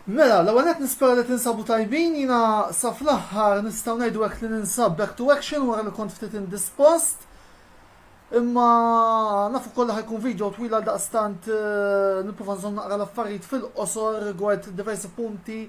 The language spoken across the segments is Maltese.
Mela, l-ewwel qed nispera li tinsabu tajbin, jiena sa fl-aħħar nistgħu ngħidu hekk li ninsab back to action wara li kont ftit indispost. Imma nafu kollha ħajkun video twil għal daqstant eh, nipprova nżomm naqra l-affarijiet fil-qosor rigward diversi punti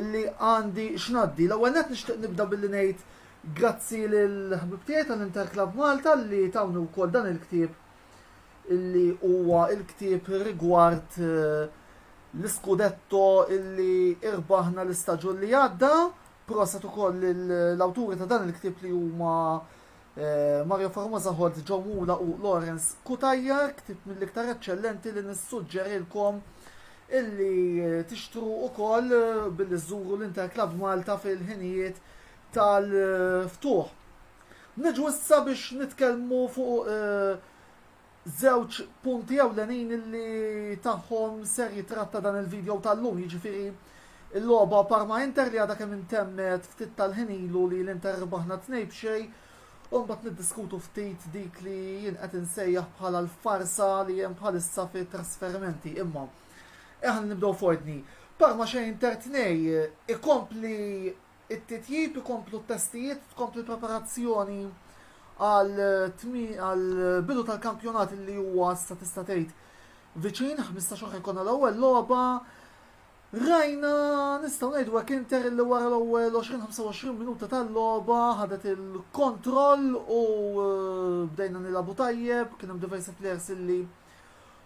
illi għandi x'ngħaddi. L-ewwel nett nixtieq nibda billi ngħid grazzi lil ħbib tiegħi tal-Inter Club Malta li tawni wkoll dan il-ktieb illi huwa il-ktieb rigward eh, l-iskudetto illi irbaħna l-istaġun li għadda. Proset ukoll l-awturi ta' dan il-ktieb li huma Mario Formosa Holt, Joe Mula u Lawrence Cutajar, ktit mill-iktar eċċellenti li nissuġġerilkom illi tixtru ukoll billi żżuru l-Interclub Malta fil-ħinijiet tal-ftuħ. Niġu issa biex nitkellmu fuq żewġ punti ewlenin li tagħhom ser jitratta dan il-video tal-lum, jiġifieri l-logħba Parma Inter li għadha kemm intemmet ftit tal-ħin ilu li l-Inter rbaħna tnej b'xejn, u mbagħad niddiskutu ftit dik li jien qed insejjaħ bħala l-farsa li hemm bħalissa fit trasferimenti. Imma eħan nibdew f'ordni. Parma xejn Inter tnej ikompli It-titjib ikomplu t-testijiet, tkompli l-preparazzjoni għall-bidu tal-kampjonat li huwa issa tista' tgħid viċin, 15 xahar jkollna l-ewwel logħba. Rajna nistgħu ngħidu hekk Inter li wara l-ewwel 20-25 minuta tal-logħba ħadet il-kontroll u eh, bdejna nilagħbu tajjeb, kien hemm diversi players illi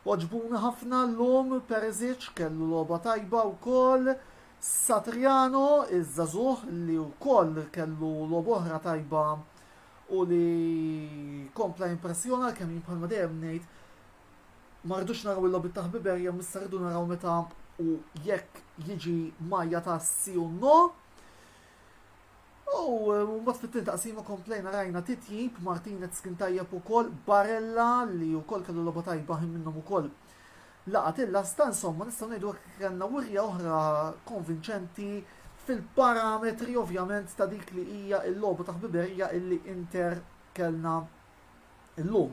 oġbuna ħafna llum Perisic kellu logħba tajba wkoll. Satriano, iż-żagħżugħ li wkoll kellu logħba oħra tajba u li kompla jimpressjona għalkemm jien bħalma dejjem ngħid ma rridux naraw il-logħbiet ta' ħbiberja missa rridu naraw meta u jekk jiġi majja ta' si u no. U eh, mbagħad fit-tieni taqsima komplejna rajna titjib Martinez kien tajjeb ukoll Barella li wkoll kellu logħba tajba ħin minnhom ukoll Laqat il-lasta, insomma, nistgħu ngħidu hekk li kellna wirja oħra konvinċenti fil-parametri ovvjament ta' dik li hija l-logħba ta' ħbiberija illi Inter kellna llum.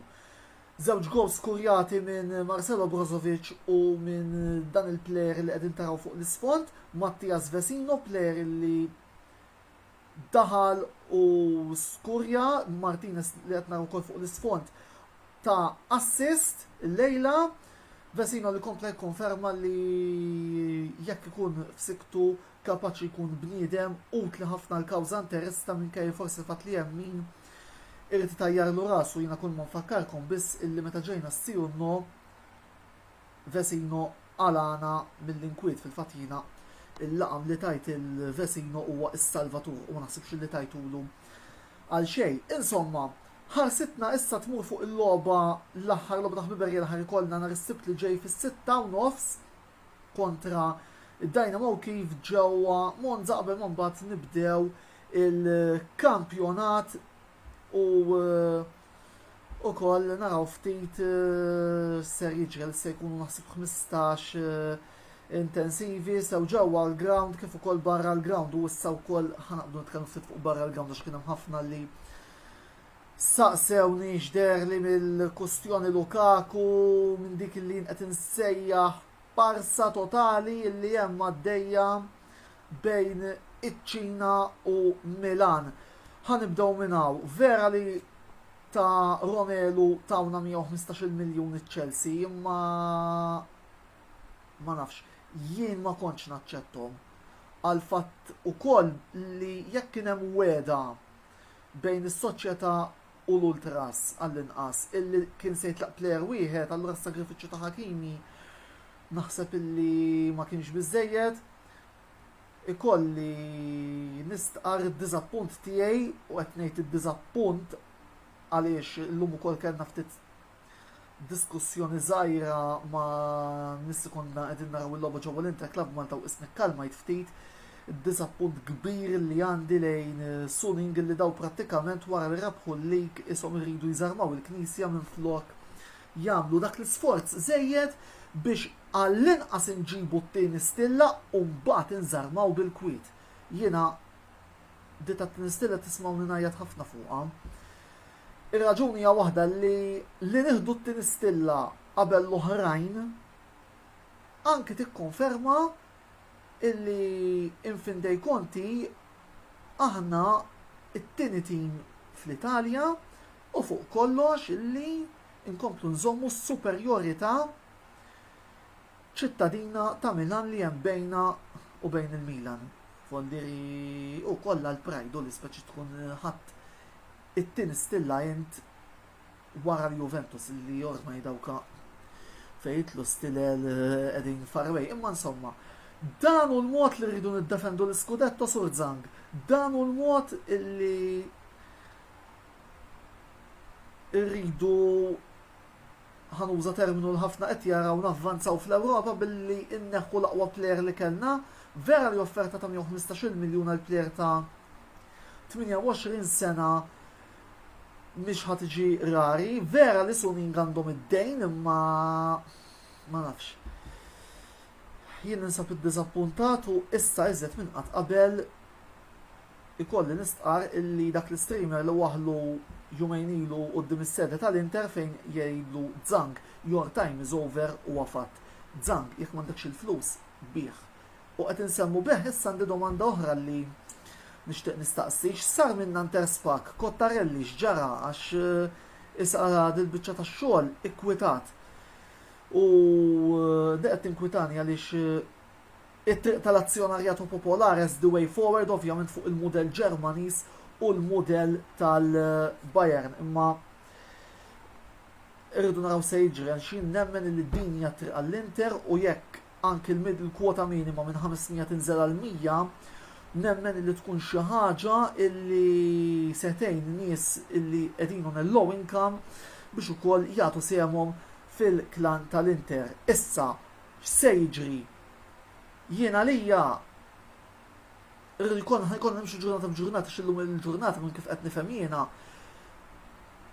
Żewġ gols skurjati minn Marcelo Brozovic u minn dan il-plejer li qegħdin taraw fuq l-isfond, Mattias Vesino, plejer li daħal u skurja Martinez li qed naraw ukoll fuq l-isfond ta' assist illejla. Vesino li kompla jikkonferma li jekk ikun f'siktu kapaċi jkun bniedem utli ħafna l-kawża interista minkejja forsi fatt li hemm min irid itajjarlu rasu jiena kull ma nfakkarkom biss illi meta ġejna s-si u n-no Vesino qalagħna mill-inkwiet, fil-fatt jiena l-laqam li tajt il-Vesino huwa s-salvatur u ma naħsibx li tajtulu għal xejn. Insomma, ħarsitna issa tmur fuq il-logħba l-aħħar logħba ta' ħbiberija li ħa jkollna nhar is-Sibt li ġej fis-sitta u nofs kontra d-Dynamo Kiev ġewwa Monza qabel ma mbagħad nibdew il-kampjonat u Ukoll naraw ftit eh, ser jiġri li se jkunu naħseb 15 eh, intensivi sew ġewwa l-ground kif ukoll barra l-ground u issa wkoll ħanaqdu nitkellmu ftit fuq barra l-ground għax kien hemm ħafna li saqsewni x'der li mill-kustjoni Lukaku minn dik li qed insejjaħ parsa totali li hemm għaddejja bejn iċ-Ċina u Milan. Ħa nibdew minn hawn. Vera li ta' Romelu tawna 115 miljun iċ-Chelsea, imma ma nafx, jien ma kontx naċċettom. Għal fatt ukoll li jekk kien hemm weda bejn is-soċjetà u l-ultras għall-inqas illi kien se jitlaq plejer wieħed, allura s-sagrifiċċju ta' Hakimi naħseb illi ma kienx biżejjed. ikolli nistqar id-diżappunt tiegħi u qed ngħid id-diżappunt għaliex illum ukoll kellna ftit diskussjoni żgħira ma' nies li konna qegħdin naraw il-logħba ġewwa l-Inter Club Malta u isni kkalmajt ftit id-diżappunt kbir li għandi lejn Suning li daw prattikament wara li rabħu l-lig ishom iridu jżarmaw il-Knisja minflok jagħmlu dak l-isforz żejjed biex għallinqas inġibu t-tieni stilla u mbagħad inżarmaw bil-kwiet. Jiena di tat-tieni stilla tismgħuni ngħajjat ħafna fuqha. Ir-raġuni hija waħda li li nieħdu t-tieni stilla qabel l-oħrajn anki tikkonferma illi in fin dei conti aħna it-tieni tim fl-Italja u fuq kollox illi nkomplu nżommu s-superjorità ċittadina ta' Milan li hemm bejna u bejn il-Milan. Fondieri u kollha l-pride u l-ispeċi tkun ħadd it-tieni stilla int wara l-Juventus li ormai dawka fejn jitlu stilel eh, qegħdin far away. Imma insomma, dan hu l-mod li rridu niddefendu l-iskudetto sur Zang. Dan hu l-mod li irridu ħanuża terminu l ħafna qed jaraw navvanzaw fl-Ewropa billi inneħħu l-aqwa plejer li kellna, vera li offerta ta' 115 miljun għal plejer ta' 28 sena mhix ħad iġi rari, vera li sunin għandhom id-dejn imma ma nafx. Jien ninsab id-dizappuntat u issa iżet minn qatt qabel Ikolli nistqarr illi dak l-istreamer li waħħlu jumejn ilu quddiem is-sede tal-Inter fejn jgħidlu Zhang, your time is over huwa fatt. Zhang, jekk m'għandekx il-flus, bigħ. U qed insemmu bejgħ issa għandi domanda oħra li nixtieq nistaqsi, x'sar minn Nanterre Spac, Cottarelli x'ġara għax issa ara dil-biċċa tax-xogħol ikkwitat. U di qed tinkwitani għaliex. It-triq tal-azzjonarjatu popolar as the way forward ovvjament fuq il-mudell Ġermaniż u l-mudell tal-Bayern imma irridu naraw se jiġri għal xi nemmen li din hija triq għall-Inter u jekk anki l-middle kwota minima minn 500 tinżel għal 100 nemmen li tkun xi ħaġa illi setejn nies illi qegħdin on low income biex ukoll jagħtu semhom fil-klan tal-Inter. Issa, x'se jiġri Jien għalija jkun ħajkun nimxu ġurnata b'ġurnata xillum il-ġurnata minn kif qed nifhem jiena.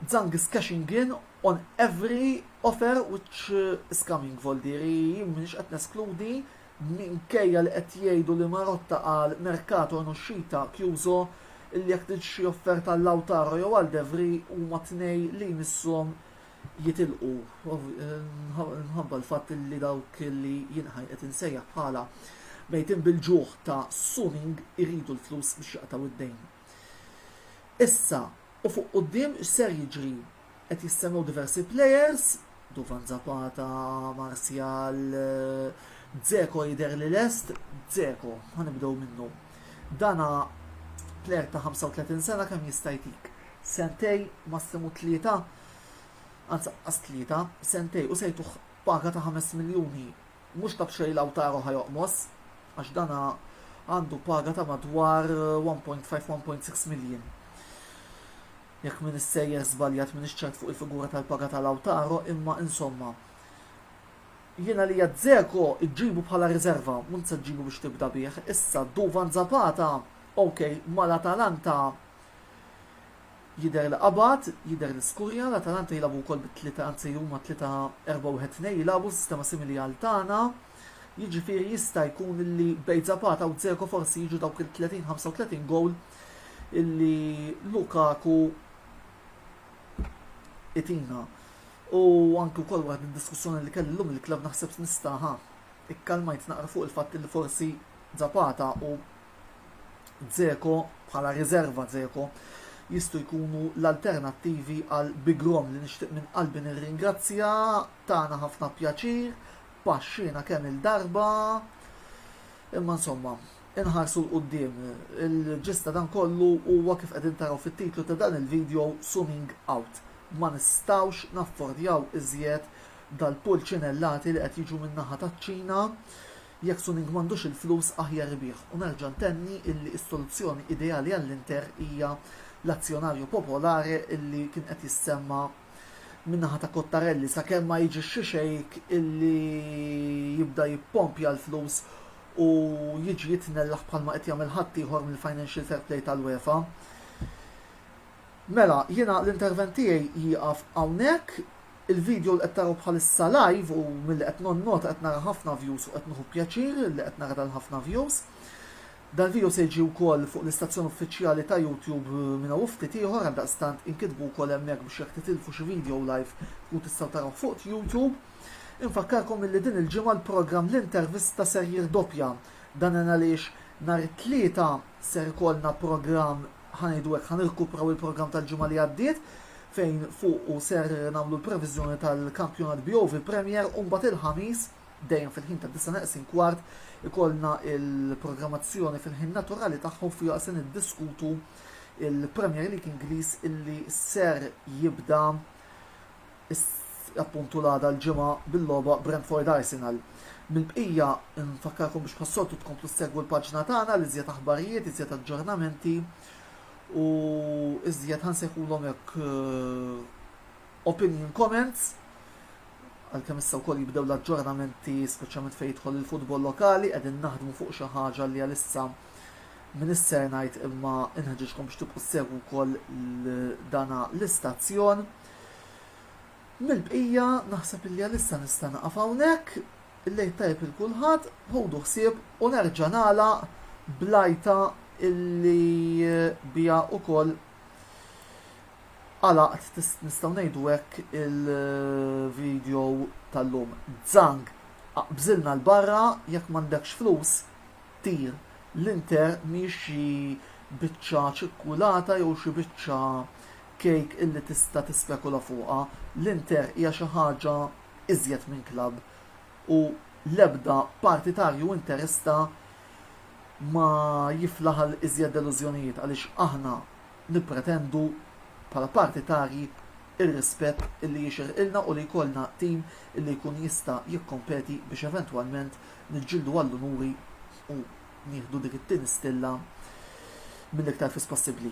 Zang is cashing in on every offer which is coming voldiri mhux qed neskludi minkejja li qed jgħidu li Marotta għal Mercato Noxxita Kjużo li jekk trid xi offerta l-Lautaro jew għal Devri huma tnej li jmisshom jitilqu minħabba l-fatt li dawk li jien qed insejjaħ bħala mejtin bil-ġuħ ta' suning iridu l-flus biex jaqtgħu d-dejn. Issa, u fuq quddiem x'ser jiġri? Qed jistennew diversi players, Duvan Zapata, Martial, Dzeko jidher li lest, Dzeko, ħanibdew minnu. Dana player ta' 35 sena kemm jista' jtik? Sentej, massimu tlieta, anzi anqas tlieta, sentejn u se jtuh paga ta' ħames miljuni. Mhux ta' b'xejn Lautaro ħa joqmos għax dan għandu paga ta' madwar 1.5-1.6 miljun. Jekk min issejjer żbaljat minn ċert fuq il-figura tal-paga ta' Lautaro, imma insomma. Jiena li Zeko iġġibu bħala riserva, mhux se ġġibu biex tibda bih. Issa Duvan Zapata, ok, mal-Atalanta Jidher li qabad, jidher li skurja, l-Atalanta jilagħbu wkoll bi tlieta anzi huma tlieta erba' wieħed tnejn jilagħbu, sistema simili għal tagħna. Jiġifieri jista' jkun li bejn Zapata u Dzeko forsi jiġu dawk il-30 35 gowl illi Lukaku itina. U anke wkoll waħd mid-diskussjoni li kelli llum il-klabb naħseb nista' ha ikkalmajt naqra fuq il-fatt li forsi Zapata u Dzeko bħala riserva Dzeko jistgħu jkunu l-alternattivi għal Bigrom li nixtieq minn qalbi nirringrazzja tagħna ħafna pjaċir paxxina kemm il-darba imma insomma inħarsu l-qoddim. Il-ġista dan kollu huwa kif qegħdin taraw fit-titlu ta' dan il-video zooming out. Ma nistawx naffordjaw iżjed dal-pulċinellati li qed jiġu min-naħa taċ-Ċina Jekk Suning m'għandux il-flus aħjar ibigħ u nerġa' ntenni illi s-soluzzjoni ideali għall-Inter hija l-azzjonarju popolare illi kien qed jissemma' min-naħa ta' Cottarelli sakemm ma jiġi xi xejk illi jibda jippompja l-flus u jiġi jitnellaħ bħalma qed jagħmel ħaddieħor mill-financial fair play tal-UEFA. Mela, jiena l-intervent tiegħi jieqaf hawnhekk. Il-video li qed taraw bħalissa live u milli qed nonnota qed nara ħafna views u qed nieħu pjaċir li qed nara dal-ħafna views. Dal-video se jiġi wkoll fuq l-istazzjon uffiċjali ta' YouTube minn hawn ftit ieħor għaldaqstant inkitbu wkoll hemmhekk biex jekk titilfu xi video live tkun tistgħu tarawh fuq YouTube. Infakkarkom illi din il-ġimgħa l-programm l-intervista ser jirdoppja. Dan għaliex nhar it-Tlieta ser ikollna programm ħa ngħidu hekk, ħa nirkupraw il-programm tal-ġimgħa li għaddiet fejn fuqu ser nagħmlu l-previżjoni tal-kampjonat BOV Premier u mbagħad il-ħamis dejjem fil-ħin ta' disa' neqsin kwart ikollna il-programmazzjoni fil-ħin naturali tagħhom fiha se niddiskutu il-Premier League Ingliż illi ser jibda appuntu l-għada l-Ġimgħa bil-logħba Brentford Arsenal. Mill-bqija nfakkarkom biex bħas-soltu tkomplu ssegwu l-paġna tagħna l iżjed aħbarijiet, iżjed aġġornamenti u iżjed ħansejħulhom hekk eh, opinion comments għalkemm issa wkoll jibdew l-aġġornamenti speċjalment fejn jidħol il-futbol lokali qegħdin naħdmu fuq xi ħaġa li għalissa minn isser ngħid imma inħeġġkom biex tibqgħu segwu wkoll dana l-istazzjon. Mill-bqija naħseb illi għalissa nista' naqaf hawnhekk. Il-Lejl tajjeb lil kulħadd, ħudu ħsieb u nerġa' nagħlaq blajta illi biha wkoll għalaqt nistgħu ngħidu hekk il-video tal-lum. Zang, aqbżilna l-barra jekk m'għandekx flus tir l-inter mhix xi biċċa ċikkulata jew xi biċċa Cake illi tista' tispekula fuqha, l-Inter hija xi ħaġa iżjed minn klabb u l-ebda partitarju Interista ma jiflaħ għal iżjed delużjonijiet għaliex aħna nippretendu bħala partitarji r-rispett illi jixirqilna u li jkollna tim illi jkun jista' jikkompeti biex eventwalment niġġieldu għall-unuri u nieħdu dik it-tieni stilla mill-iktar fis possibbli.